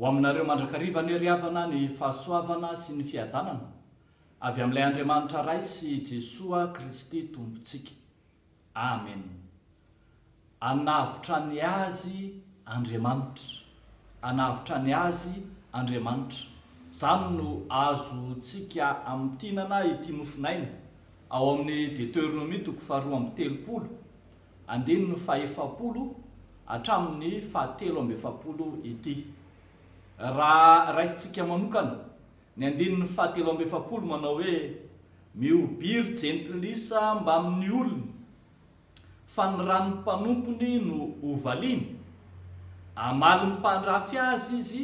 Ho aminareo mandrakariva anie ry havana ny fahasoavana sy ny fiadanana avy amin'ilay Andriamanitra Ray sy Jesoa Kristy Tompontsika. Amen Anavotra ny azy Andriamanitra Anavotra ny azy Andriamanitra Zany no azo tsika amintinana ity nofonaina ao amin'ny Deteronomie toko faharoa amby telopolo andininy fahefapolo hatramin'ny fahatelo amby efapolo ity Raha raisintsika manokana Ny andininy fahatelo amby efapolo manao hoe, Mihobiry jentilisa mbamin'ny olony, fa ny ran'ny mpanompony no hovaliany. Hamalin'ny mpandrafy azy izy,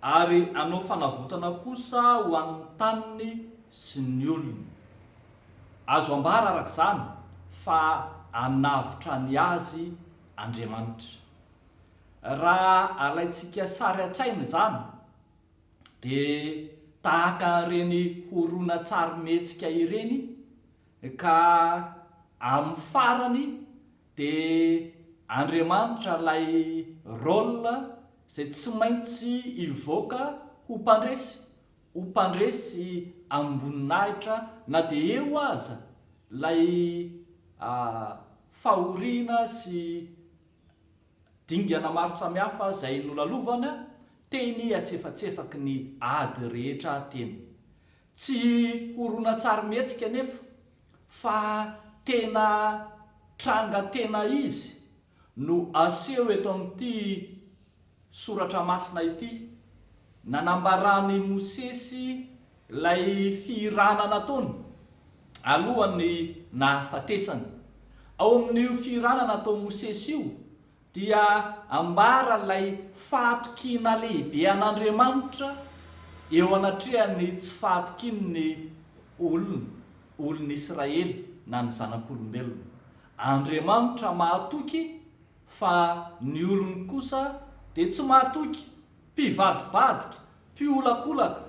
ary hanao fanavotana kosa ho an'ny taniny sy ny olony. Azo ambara araka izany fa hanavotra ny azy Andriamanitra. Raha alaintsika sary an-tsaina izany, dia tahaka ireny horonantsarimihetsika ireny ka amin'ny farany dia Andriamanitra ilay rôle izay tsy maintsy hivoaka ho mpandresy, ho mpandresy amim-boninahitra na dia eo aza ilay fahoriana sy Dingana maro samihafa izay nolalovana teny antsefatsefaky ny ady rehetra teny. Tsy horonantsarimihetsika anefa fa tena tranga tena izy no aseho eto amin'ity soratra masina ity. Nanambaran'i Mosesy Ilay fihirana nataony alohan'ny nahafatesany. Ao amin'io fihirana nataon'i Mosesy io dia ambara ilay fahatokiana lehibe an'Andriamanitra eo anatrehan'ny tsy fahatokian'ny olony, olon'Israely na ny zanak'olombelona. Andriamanitra mahatoky fa ny olony kosa dia tsy mahatoky, mpivadibadika, mpiolakolaka,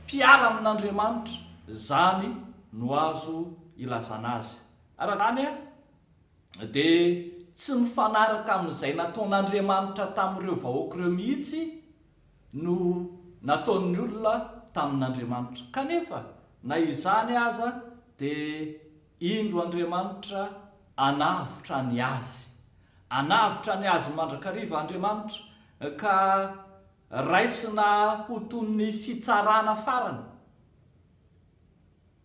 mpiala amin'Andriamanitra, izany no azo ilazana azy. Araka izany, dia tsy mifanaraka amin'izay nataon'Andriamanitra tamin'ireo vahoaka ireo mihitsy no nataon'ny olona tamin'Andriamanitra. Kanefa, na izany aza, dia indro Andriamanitra hanavotra ny azy. Hanavotra ny azy mandrakariva Andriamanitra, ka Raisina ho toy ny fitsarana farany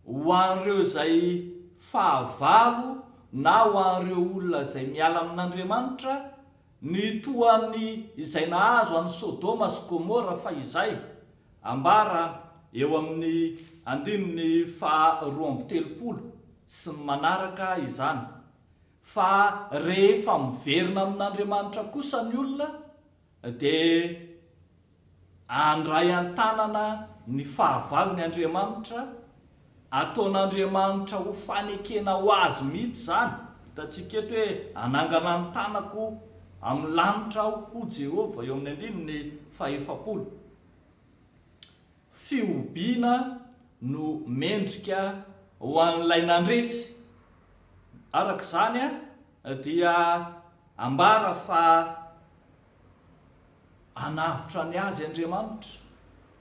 ho an'ireo izay fahavalo na ho an'ireo olona izay miala amin'Andriamanitra ny toa an'ny izay nahazo an'i Sodoma sy Gomora fahizay, ambara eo amin'ny andininy faha roa amby telopolo sy ny manaraka izany. Fa rehefa miverina amin'Andriamanitra kosa ny olona, dia handray an-tanana ny fahavalony Andriamanitra, ataon'Andriamanitra ho fanekena ho azy mihitsy izany, hitantsika eto hoe hanangana ny tanako amin'ny lanitra aho, hoy Jehovah, eo amin'ny andininy fahefapolo. fihobiana no mendrika ho an'ilay nandresy. Araka izany dia ambara fa hanavotra ny azy Andriamanitra,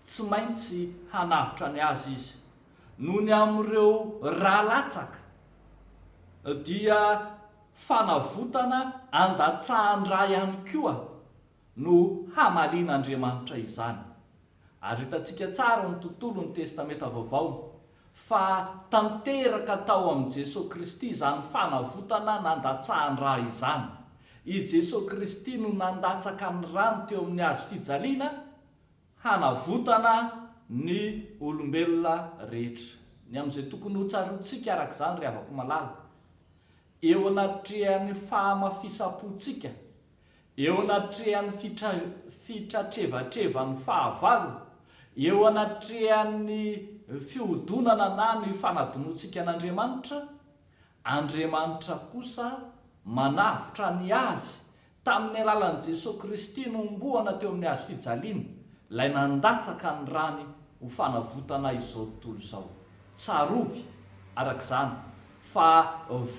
tsy maintsy hanavotra ny azy Izy. Noho ny amin'ireo ra latsaka dia fanavotana andatsahan-dra ihany koa no hamalian'Andriamanitra izany. Ary hitantsika tsara ny tontolon'ny Testamenta Vaovao fa tanteraka tao amin'i Jesoa Kristy izany fanavotana nandatsahan-dra izany. I Jesoa Kristy no nandatsaka ny rany teo amin'ny Hazo fijaliana hanavotana ny olombelona rehetra. Ny amin'izay tokony hotsaroantsika araka izany, ry havako malala, eo anatrehan'ny fahamafisam-pontsika eo anatrehan'ny fitratrevatrevan'ny fahavalo, eo anatrehan'ny fihodonana na ny fanadinoantsika an'Andriamanitra, Andriamanitra kosa manavotra ny azy tamin'ny alalan'i Jesoa Kristy nohomboana teo amin'ny hazo fijaliana, ilay nandatsaka ny rany ho fanavotana izao tontolo izao. Tsarovy, araka izany, fa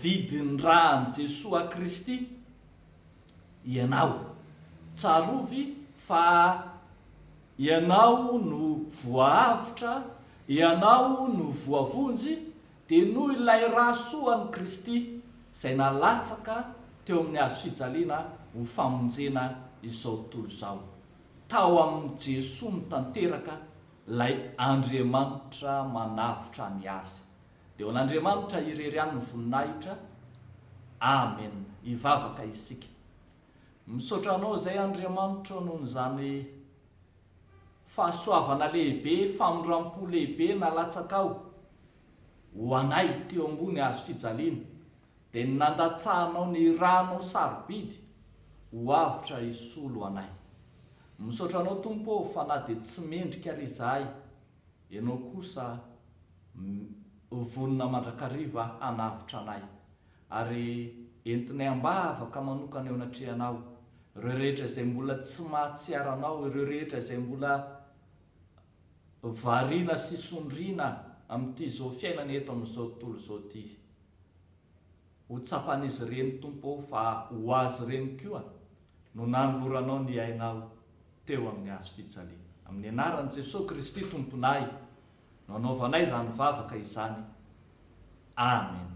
vidin-dran'i Jesoa Kristy ianao. Tsarovy fa ianao no voahavotra, ianao no voavonjy, dia noho ilay ra soan'i Kristy izay nalatsaka teo amin'ny hazo fijaliana ho famonjena izao tontolo izao. Tao amin'i Jesoa no tanteraka ilay Andriamanitra manavotra ny Azy. Dia ho an'Andriamanitra irery ihany ny voninahitra. Amen. Hivavaka isika. Misaotra Anao izay Andriamanitro noho izany fahasoavana lehibe, famindrampo lehibe nalatsakao ho anay teo ambony hazo fijaliana, dia ny nandatsahanao ny ranao sarobidy ho avotra hisolo anay. Misaotra Anao Tompo ô fa na dia tsy mendrika ary izahay, Ianao kosa vonona mandrakariva hanavotra anay, ary entinay am-bavaka manokana eo anatrehanao ireo rehetra izay mbola tsy mahatsiaro anao, ireo rehetra izay mbola variana sy sondriana amin'ity zo fiainana eto amin'izao tontolo izao ity. Ho tsapan'izy ireny, Tompo ô, fa ho azy ireny koa no nanoloranao ny ainao teo amin'ny hazo fijaliana. Amin'ny anaran'i Jesoa Kristy Tomponay no anaovanay izany vavaka izany. Amena.